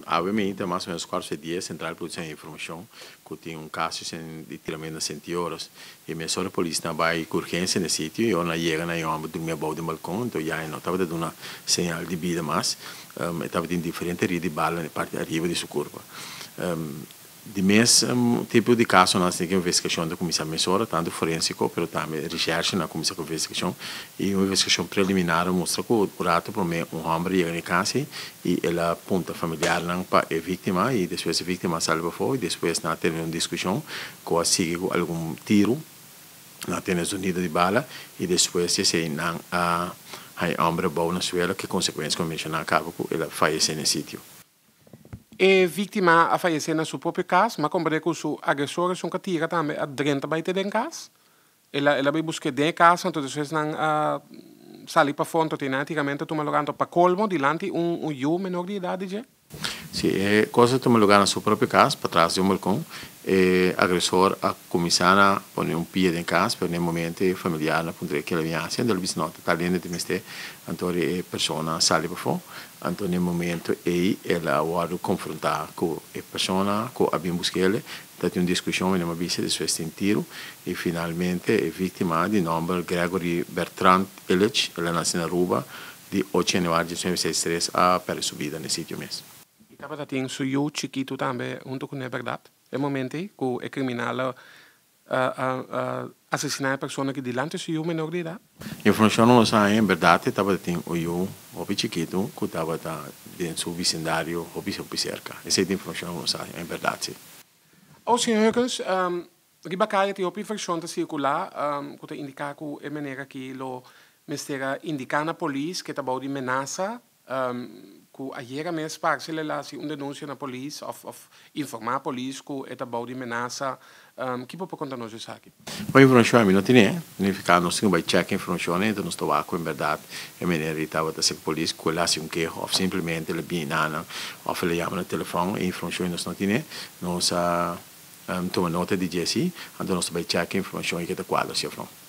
Awe mi ta mas o menos kuater su e dia sentral e policia a informashon ku tin un kaso di tiramentu na senti oras i mesora e polisnan a bai ku urgensia na e sitio i ora nan yega nan e hòmber durmi abou den balkon enton ya e no tabata duna señal di bida mas e tabatin diferente erida di bala na e parti ariba di su kurpa. Di mes tipo di casonan a siña cu investigacion ta cuminsa mesora, tanto forensico pero tambe recherche na cuminsa cu investigacion y un investigacion preliminar a mustra cu un rato prome un homber a yega na e casa ey y el a punta familiarnan pa e victima y despues e victima a sali bafo y despues nan a tene un discusion cu a sigui cu algun tiro, nan a tene zonido di bala y despues di esey nan a haña e homber a bao na suelo cu e consecuencia cu mencioná caba cu el a fayece na e sitio. E víktima a fayesé na su propio kas, ma kòmprendé ku su agresor esun ka tira tambe a drenta bai te den kas. El a el a bai busk'é den e kas anto des esnan a sali pafó anto te nan a tira menta tuma lugá anto pa kolmo dilanti un un yu menor di edat di dje. Si e kos a tuma lugá na su propio kas patras di un balkon, e agresor a kuminsá na pone un pie den kas pero na e momento e familiarnan puntra e kila bin hacia, dor bisnòt a ta lende te mester anto e persona a sali pafó Anto na e momento ei el a wòrdu konfrontá ku e persona ku a bin buska el, ta tin un diskushon en e mabisa di su estin Tiro, i finalmente e víktima di nòmber Gregory Bertrand Illich, el a nase na Aruba di ocho yanuari di diecinueve sesenta y tres, a pèrdè su bida na e sitio mes. I tabata tin su yu chikitu tambe huntu ku n'e bèrdat. E momento ei ku e kriminal a asesiná e persona ki dilanti su yu menor di edat. Informashon nos a haña, en berdad e tabata tin un yu hopi chikitu ku tabata den su visindario hopi hopi serka. Esei ta informashon ku nos a haña, en berdad si. Aos señor Huggins, riba kaya tin hopi informashon ta sirkulá ku ta indiká ku e meneer aki lo mester a indiká na polis ku e ta abou di menasa Cu ayera mes sparsi lelaci un denuncia na polis of of informa polis cu e ta bao di menasa. Ki bo por conta nos di esaki? Bon informacion ami no tine. Nifica nos tin cu bay checa informacion enta nos ta wak cu en berdad e meneer di tabata seki polis cu el haci un keho of simplemente el a bini na nan of el a yama na telefon. E informacion nos no tine. Nos a tuma nota di dje si, anto nos ta bay checa informacion y ke ta cuadra si of no.